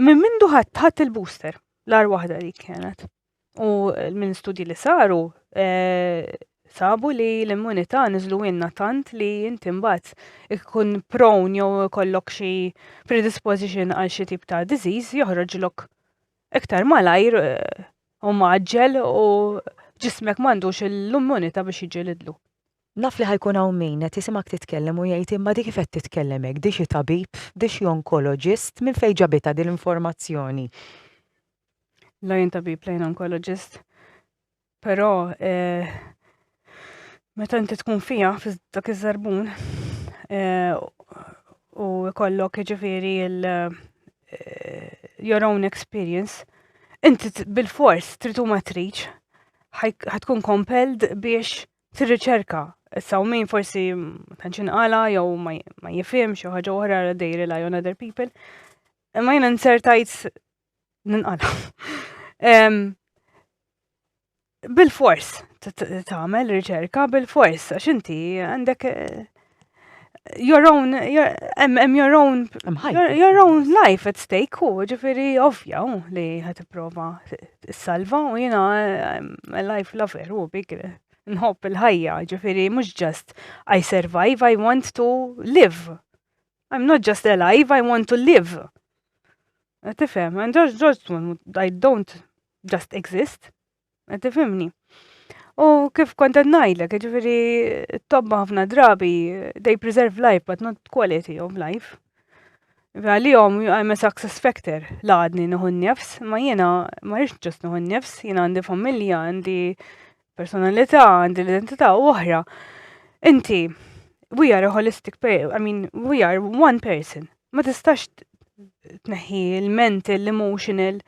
Minn mindu ħadd ħadd il-booster, l-ar waħda dik kienet. U minn studji li saru, eh, sabu li l-immunità niżlu inna tant li inti mbagħad ikun prone jew kollok xi predisposition għal xi tip ta' disease joħroġlok iktar malajr eh, u maġġel u ġismek m'għandux l-immunità biex jiġi lidlu. Naf li ħa jkun hawn min qed jisimgħek titkellem u jgħid imma di kif qed titkellem hekk, di xi tabib, di xi onkoloġist, minn fejn ġabitha din l-informazzjoni? La jien tabib, la jien onkoloġist. Però eh, meta inti tkun fija fi dak iż-żarbun eh, u kollok ġifieri il- eh, your own experience, inti bil-fors trid u ma tridx ħatkun compelled biex Fir-riċerka, is-sawmin forsi ma tantx inqala jew ma jifhimx xi ħaġa oħra għal they rely on other people. Imma jiena nsertajt ninqala. Bil-fors tagħmel riċerka bil-fors għax inti għandek eh, your own, your, em, em your own, your, your own life at stake u ġifiri ovvja u li ħat prova salva u jina a life lover u big nħob il-ħajja ġifiri mux just I survive, I want to live. I'm not just alive, I want to live. Tifem, and just, just, I don't just exist. Qed tifhimni? U kif kont qed ngħidlek, ġifieri t-tobba ħafna drabi they preserve life but not quality of life. Għalihom I'm a success factor la għadni nieħu nifs, ma jiena ma rridx ġust nieħu nifs, jiena għandi familja, għandi personalità, għandi l-identità u oħra. Inti, we are a holistic, I mean, we are one person. Ma tistax tneħħi il-mental, l-emotional,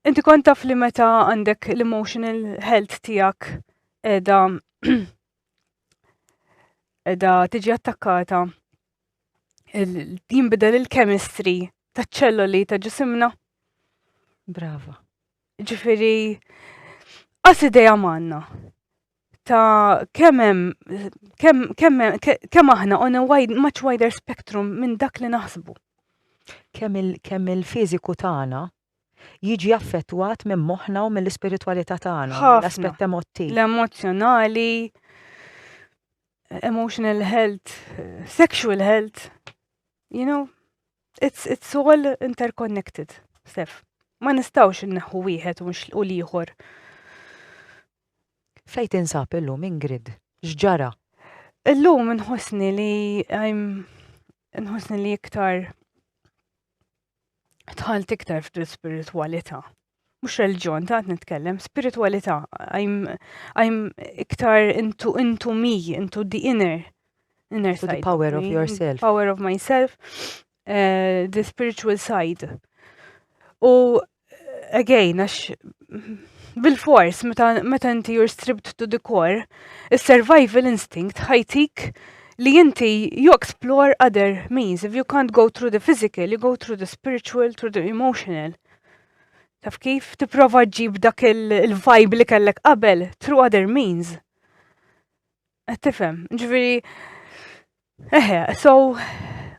Inti kont taf li meta għandek l-emotional health tiegħek edha edha tiġi attakkata jinbidel il-chemistry ta' ċelloli ta' ġisimna. Brava. Ġifiri, għas ideja manna ta' kemem, kem, kem, kem aħna on a wide, much wider spectrum minn dak li naħsbu. Kemm il-fiziku tagħna jiġi affettwat minn moħħna u mill-ispiritwalità tagħna, Ħafna. l-aspett emottiv. L-emozzjonali, emotional health, sexual health, you know, it's, it's all interconnected, Stef. Ma nistawx inneħħu wieħed u nxl- u l-ieħor. Fejn tinsab illum Ingrid? X'ġara? Illum nħossni li I'm nħossni li iktar tħalt iktar f'dil spiritualita. Mux reġjon, ta' nitkellem, spiritualita. I'm iktar into, into me, into the inner, inner side. the power of yourself. Power of myself, uh, the spiritual side. U, again, għax bil-fors, meta inti you're stripped to the core, il-survival instinct ħajtik li inti you explore other means. If you can't go through the physical, you go through the spiritual, through the emotional. Taf kif tipprova ġib dak il-vibe li kellek qabel through other means. Qed tifhem, ġifieri eħe, so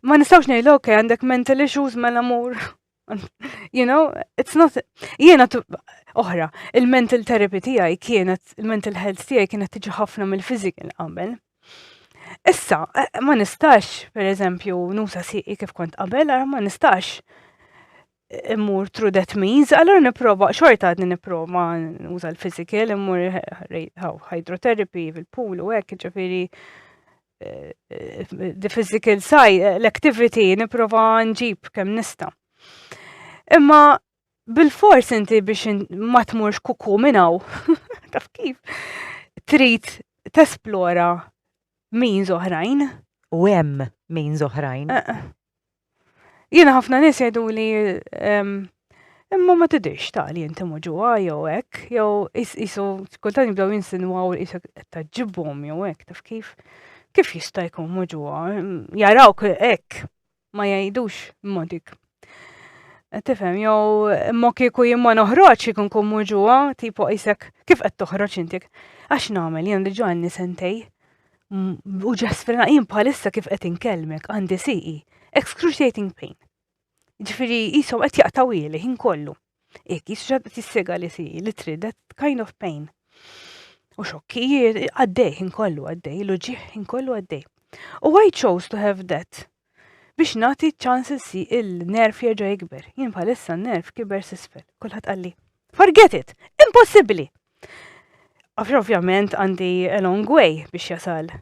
ma nistgħux ngħidu ok għandek mental issues mela mur you know, it's not, jiena oħra, il-mental therapy tiegħi kienet, il-mental health tiegħi kienet tiġi ħafna mill-physical qabel. Issa, eh, ma nistax, per eżempju, nusa siqi kif kont qabel, għara ma nistax eh, immur through that means, għallur niprofa, xorta għadni niprofa nusa l-physical, immur hydrotherapy fil-pool u għek, ġifiri, the physical side, l-activity, niprofa nġib kem nista. Imma bil-fors inti biex ma tmurx kuku minnaw, taf kif, trid tesplora means oħrajn. U hemm means oħrajn. Eh, eh. Jiena ħafna nies jgħiduli ehm, imma ma tidirx ta' li inti muġuha jew hekk, jew isu kultant jibdew jinsinwaw li isek taġġibhom jew hekk taf kif. Kif jista' jkun muġuha? Jarawk hekk ma jgħidux modik. Tifhem, jew imma kieku jien ma noħroġ ikun kun muġuha, tipo isek kif qed toħroġ intik. Għax nagħmel jien diġà għandi sentej. u ġasfrina jien bħalissa kif qed inkellmek għandi siqi excruciating pain. Ġifieri jisom qed jaqtaw ili ħin kollu. Jekk jisra tissega li siqi li trid kind of pain. U xokki għaddej ħin kollu għaddej, l-ġieħ ħin kollu għaddej. U I chose to have that biex nagħti ċans si il-nerf jerġa' jikber. Jien bħalissa n-nerf kiber sisfel. Kulħadd qalli, forget it, impossibbli! Għax ovvjament għandi a long way biex jasal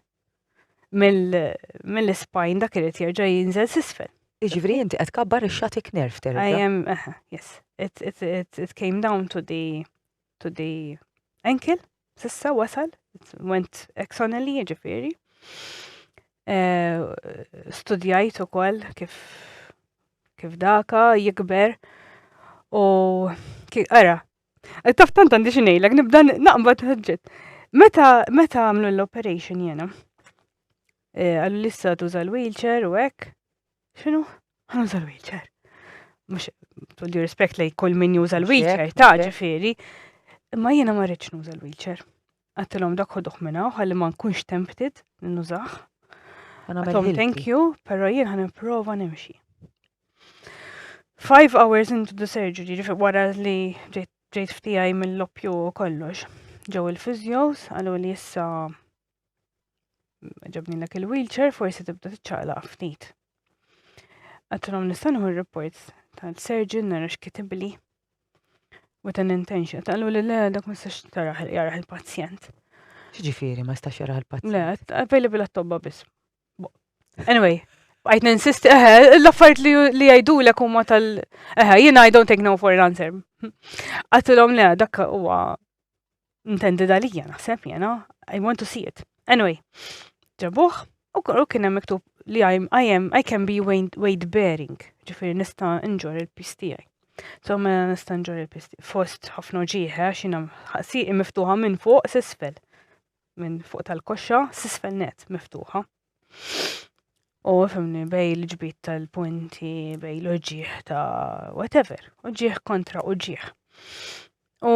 mill-ispajn dak irid jerġa' jinżel sisfel. Iġifri inti qed kabbar ix-xatik nerf terġa'. I am, yes. It, it, it, it came down to the to the ankle Sissa wasal, went eksonelli ġifiri. Eh, studjajt u koll kif, kif daka jikber u kif, ara, taf tant għandi xinejlek, nibda naqbad ħġġet. Meta, meta għamlu l-operation jena, eh, għallu lissa tuża l-wheelchair u għek, Xinu? Għan uża l-wheelchair. Mux, tulli rispekt li kull min juża l-wheelchair, ta' ġifiri. Imma jiena ma rridx nuża l-wheelchair. Għattilom dak uħduħ minna, għalli ma nkunx tempted nużax. Għattilom thank you, pero jien għan prova nimxi. Five hours into the surgery, ġifiri wara li ġejt ftijaj mill-loppju kollox. Ġew il-fizjos, għallu li jissa ġabni l il-wheelchair forsi tibda tiċċaqla ftit. Għattilom nistanħu il-reports ta' surgeon nara x'kitibli with an intention. Taqlu li le dak ma stax taraħ jaraħ il-pazjent. Ġifiri, ma stax jaraħ il-pazjent. Le, available għat-tobba biss. Anyway, għajt ninsisti, eħe, eh, l-affariet li għajdu l huma tal. Eħe, eh, jina I don't take no for an answer. Għatilom le, dak huwa Intended għalija naħseb jena, I want to see it. Anyway, ġabuħ, u kollu kien hemm miktub li I am, I can be weight bearing, ġifiri nista' nġor il-pis tiegħi. So mela nista' nġor il-pis fost ħafna ġieħe għax jiena ħaqsiqi miftuħa minn fuq s'isfel. Minn fuq tal-koxxa s'isfel net miftuħa. U fimni bej l-ġbit tal-punti, bej l-ġieħ ta' whatever, uġieħ kontra uġieħ. U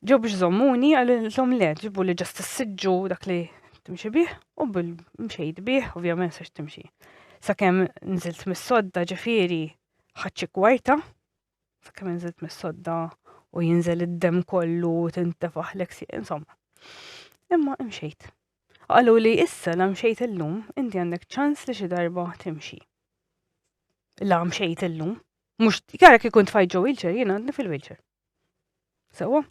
Ġew biex żommuni għalilhom le ġibu li ġast issiġġu dak li timxi bih u bil mxejt bih ovvjament sax timxi. Sakemm nżilt mis-sodda ġifieri ħaċċi kwarta, sakemm nżilt mis-sodda u jinżel id-dem kollu u tintefaħlek si, insomma. Imma imxejt. Qalu li issa la mxejt illum inti għandek ċans li xi darba timxi. La mxejt illum. Mux, kara kikun tfajt ġo wheelchair, jina għandni fil-wheelchair. Sewa?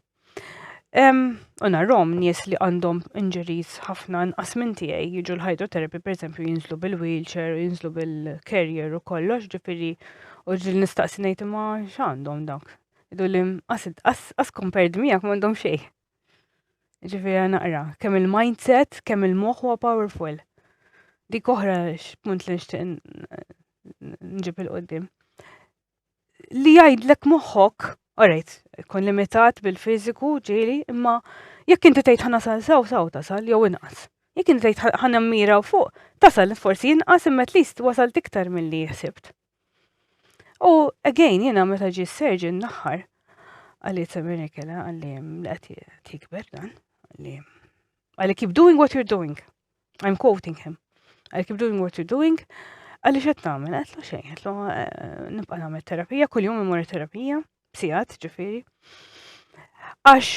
U narrom nies li għandhom injuries ħafna nqas minn tiegħi jiġu l-hydrotherapy pereżempju jinżlu bil-wheelchair, jinżlu bil-carrier u kollox, ġifieri u ġil nistaqsi ngħid imma x'għandhom dak. Idu li qas compared miegħek m'għandhom xejn. Ġifieri naqra, kemm il-mindset, kemm il-moħħ huwa powerful. Dik oħra x'punt li nixtieq nġib il-qoddim. li jgħidlek moħħok, orajt, kun limitat bil-fiżiku ġieli, imma jekk inti tgħid ħana sal saw saw tasal jew inqas. Jekk inti tgħid ħana mira fuq, tasal forsi inqas imma tlist wasal tiktar milli jħsibt. U again jiena meta ġi s-serġi naħħar għalli t-samini kena għalli mlaqti tikber dan għalli għalli keep doing what you're doing. I'm quoting him. I keep doing what you're doing. Għalli xed namen, għetlu xej, għetlu eh, nibqa namen terapija, kull jum imur terapija, bsijat ġifiri. Għax,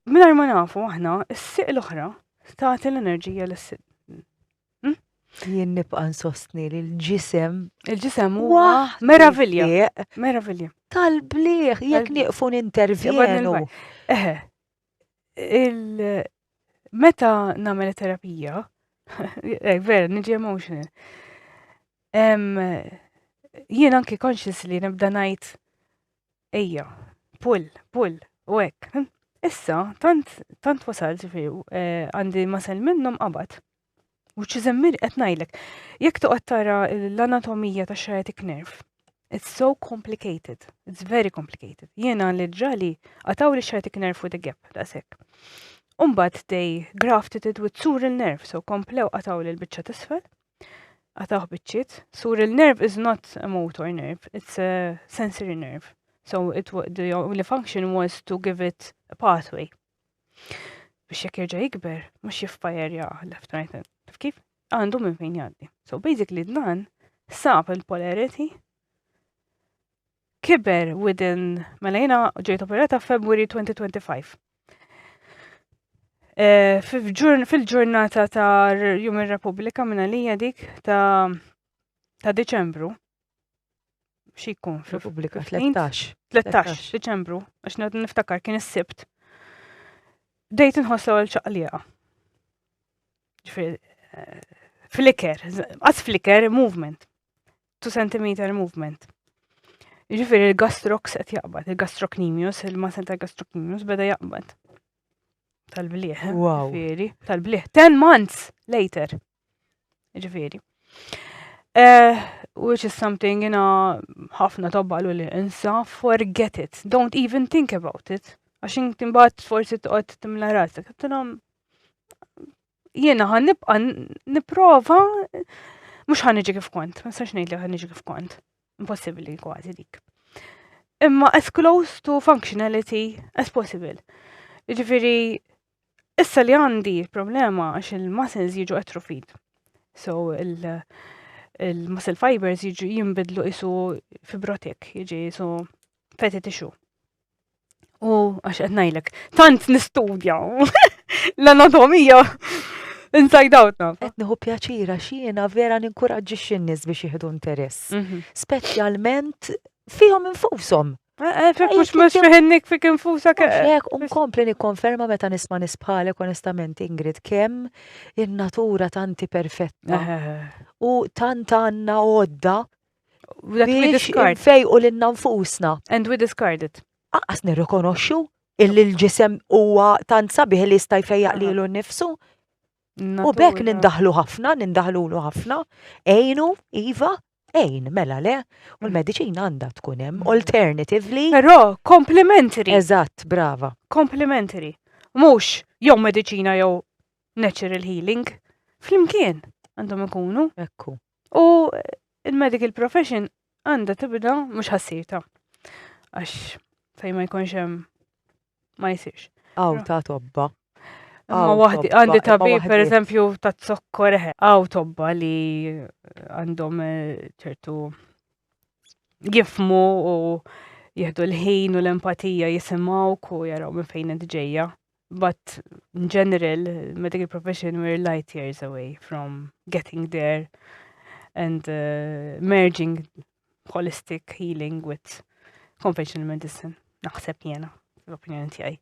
minna ma nafu aħna, s-siq l-oħra, taħti l-enerġija l-siq. Hmm? Jien nibqa nsostni li l-ġisem. Il-ġisem huwa meravilja. Meravilja. Tal-bliħ, jek nieqfu nintervjenu. Eħe, il meta nagħmel terapija, eh, vera, niġi emotional. Jien anki conscious li nibda ngħid ejja, pull, pull, u hekk. Issa, tant, tant wasalt ġifieri, eh, għandi masel minnhom qabad. Which is immir qed ngħidlek, jekk toqgħod tara l-anatomija ta' sciatic nerve, it's so complicated, it's very complicated. Jiena li ġali għataw li sciatic nerve with a gap daqshekk. Umbagħad they grafted it with sural nerve, so komplew għataw li l-biċċa tisfel. Għataw biċċiet. Sural nerve is not a motor nerve, it's a sensory nerve. So it, the only function was to give it a pathway. Biex jekk jerġa' jikber, mhux jifpa jerja left right hand. Kif? Għandu minn fejn jgħaddi. So basically dan sab il-polarity kiber within mela jina ġejt operata February 2025. Eh, fil-ġurnata ta' Jum ir-Repubblika minna li dik ta' ta' Deċembru, xikun fil-Repubblika 13. 13 Diċembru, għax niftakar kien is-Sibt. Dejt nħoss l-ewwel ċaqliqa. Eh, flicker, għas flicker movement. 2 cm movement. Ġifieri il-gastrox qed jaqbad, il-gastrocnemius, il-masel ta' gastrocnemius beda jaqbad. Tal-bliħ. Wow. Tal-bliħ. 10 months later. Ġifieri. Uh, which is something jina ħafna tabbalu li insa, forget it, don't even think about it. Għax inti mbagħad forsi toqgħod timla rasek. Tilhom jiena ħan nibqa' nipprova mhux ħan niġi kif kont, ma sax ngħid li ħan niġi kif kont. Impossibbli kważi dik. Imma as close to functionality as possible. Ġifieri Issa li għandi problema għax il-muscles jiġu atrophied. So il-muscle fibers jiġu jimbidlu isu fibrotik, jiġi isu feti tixu. U għax qed ngħidlek, tant nistudja l-anatomija inside out naf. Qed nieħu pjaċira x'jiena vera ninkuraġġi x'in-nies biex jieħdu interess. Mhm. Speċjalment fihom infushom. Fek mux mux fiħinnik fik infusa kek. Fek, unkompli nikkonferma meta nisma nisbħalek onestament Ingrid kem il-natura tanti perfetta. U tant għanna għodda biex fej u l-inna nfusna. And we discard it. Aqqas nirrikonoxxu illi l-ġisem huwa tant sabiħ li jista' jfejjaq lilu nnifsu. U bekk nindaħlu ħafna, nindaħlu ħafna, ejnu, iva, Ejn, mela le, u l-mediċina għandha tkun hemm mm. alternatively. Però complementary. Eżatt, brava. Complementary. Mhux jew mediċina jew natural healing. Flimkien għandhom ikunu. Ekku. U il-medical profession għandha tibda mhux ħassita. Għax fejn ma jkunx hemm ma jsirx. Aw ta' tobba. Ma waħdi, għandi tabi, per eżempju, ta' zokkor, għaw tobba li għandhom eh, ċertu jifmu u jihdu l-ħin u l-empatija jisimaw ku jaraw minn fejn ġejja. But in general, medical profession we're light years away from getting there and uh, merging holistic healing with conventional medicine, naħseb jena, l-opinjoni tiegħi.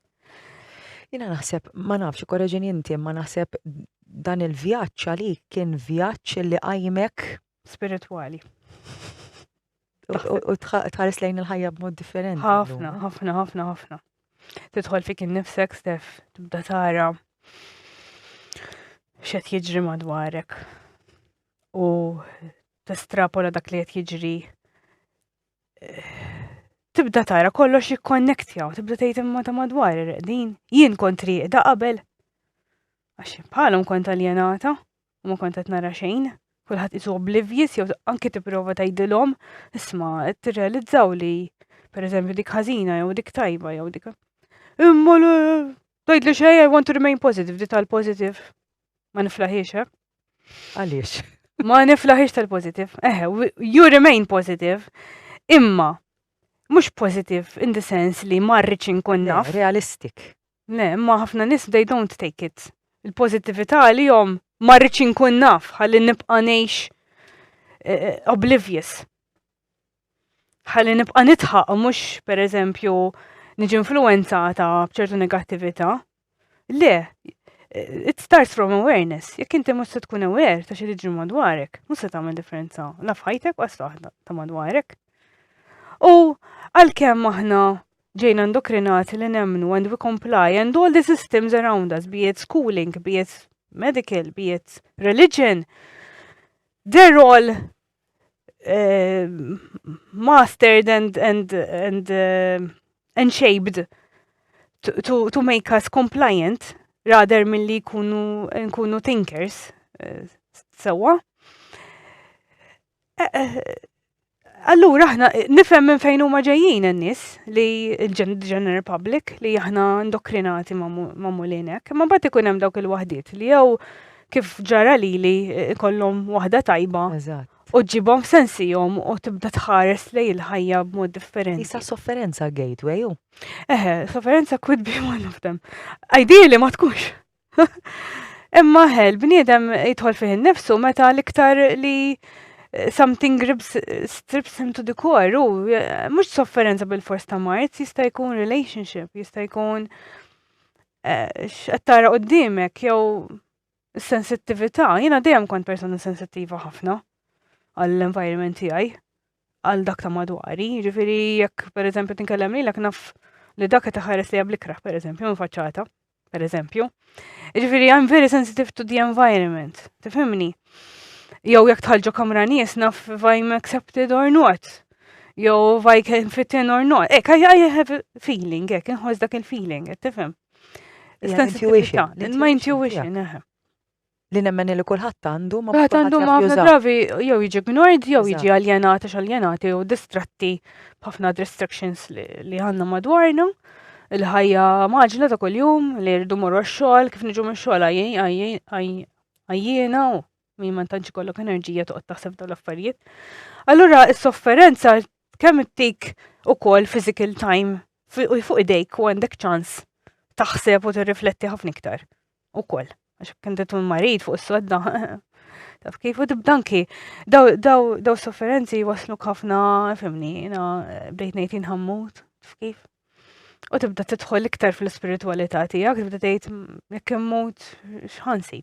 Jena naħseb, ma nafx, korreġin inti, ma naħseb dan il-vjaġġ għali kien vjaġġ li għajmek spiritwali. U tħares lejn il-ħajja b'mod differenti. Ħafna, ħafna, ħafna, ħafna. Tidħol fik innifsek stef, tibda tara xed jiġri madwarek. U testrapola dak li qed jiġri tibda tara kollox jikkonnektja u tibda tgħid imma ta' madwar ir-reqdin. Jien kont rieqda qabel. Għax bħalhom kont aljenata u ma kont qed nara xejn. Kulħadd isu oblivious jew anke tipprova tgħidilhom isma' qed tirrealizzaw li pereżempju dik ħażina jew dik tajba jew dik. Imma Dojd li xej, I want to remain positive, di tal-positive. Ma niflaħiex, eh? Għaliex? Ma niflaħiex tal-positive. Eh, you remain positive. Imma, mux positive in the sense li marriċ inkun naf. Realistic. Le, ma ħafna nis they don't take it. Il-pozitivita li jom marriċ inkun naf, għalli nibqa neħx eh, eh, oblivious. ħalli nibqa' nidħaq mhux pereżempju niġi influenzata b'ċertu negattività. Le, it starts from awareness. Jekk inti mhux se tkun aware ta' xi tiġi madwarek, mhux se tagħmel differenza la f'ħajtek u waħda ta' madwarek. U għalkemm aħna ġejna ndokrinati li nemmnu and we comply and all the systems around us, be it schooling, be it medical, be it religion, they're all uh, mastered and, and, and, uh, and shaped to, to, to make us compliant rather mill-li kunu, nkunu thinkers uh, sewa. Uh, uh, Allura aħna nifhem minn fejn huma ġejjin in-nies li l-general public li aħna indokrinati ma' mulinek, ma' bagħad ikun hemm dawk il-waħdiet li jew kif ġara lili kollhom waħda tajba. Eżatt. U ġibhom sensihom u tibda tħares lej il-ħajja b'mod differenti. Issa sofferenza gateway u. Eħe, sofferenza could be one of them. Ideali ma tkunx. Imma ħel, bniedem jidħol fih nifsu meta l-iktar li eh, something grips, strips him to the core, u eh, mux sofferenza bil-fors ta' mart, jista' jkun relationship, jista' jkun x'qed tara quddiemek jew is-sensittività. Jiena dejjem kont persuna sensittiva ħafna għall-environment tiegħi, għal dak ta' madwari. Ġifieri jekk pereżempju tinkellem lilek naf li dak qed iħares li bl-ikra, pereżempju, minn faċċata, pereżempju. Ġifieri I'm very sensitive to the environment, tifhimni? Jew jekk tħallġu kamra nies naf if I'm accepted or not. Jew if I can fit in or not. Ek, I, I have a feeling, ek, inħoss dak il-feeling, qed tifhem. Sensitività, ma intuition, eħe. Li nemmen li kulħadd għandu ma kulħadd għandu ma ħafna drabi jew jiġi ignored jew jiġi aljenat għax aljenati jew distratti b'ħafna distractions li għandna madwarna il-ħajja maġla ta' kuljum li rridu morru x-xogħol kif niġu mix-xogħol għajjina u min ma tantx ikollok enerġija toqgħod taħseb dawn l-affarijiet. Allura is-sofferenza kemm ittik ukoll physical time u fuq idejk u għandek ċans taħseb u tirrifletti ħafna iktar. Ukoll, għax kien tkun marid fuq is-sodda. Taf kif u tibdanki, daw sofferenzi waslu ħafna, fimni, jina bdejt ngħid inħammut, taf kif. U tibda tidħol iktar fl-ispiritualità tiegħek, tibda tgħid jekk immut x'ħansib.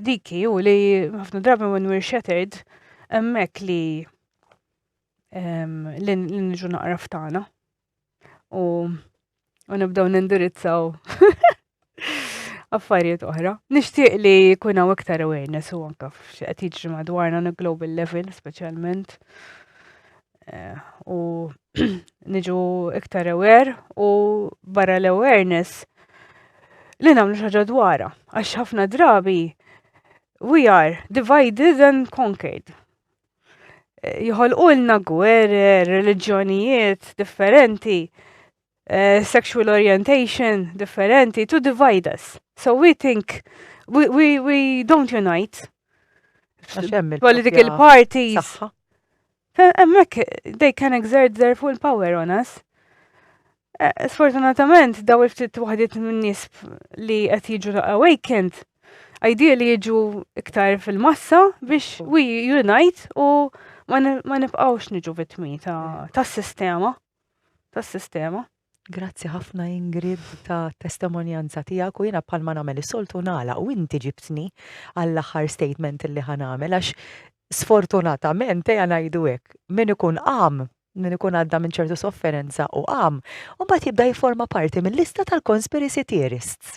diki u li ħafna drabi when we're shattered emmek li li nġu naqra ftana u u nibdaw nindirizzaw affarijiet oħra. Nixtieq li jkun hawn iktar awareness u anke f'xi qed jiġri madwarna na global level speċjalment. Eh, u niġu iktar aware u barra l-awareness li namlu xaġa dwara. Għax ħafna drabi we are divided and conquered. Eh, Jħolqulna gwerer, reliġjonijiet differenti uh, sexual orientation differenti to divide us. So we think we, we, we don't unite. Political parties. Emmek, they can exert their full power on us. Eh, sfortunatament, daw il-ftit waħdiet minn nies li qed jiġu awakened, idea li jiġu iktar fil-massa biex we unite u ma nibqgħux niġu vitmi ta' sistema. tas-sistema. Grazzi ħafna Ingrid ta' testemonjanza tiegħek u jiena bħalma nagħmel is-soltu nagħlaq u inti ġibtni għall-aħħar statement li ħa nagħmel għax sfortunatament ejja ngħidu hekk, min ikun qam, min ikun għadda minn ċertu sofferenza u qam, imbagħad jibda jifforma parti mil-lista tal-conspiracy theorists.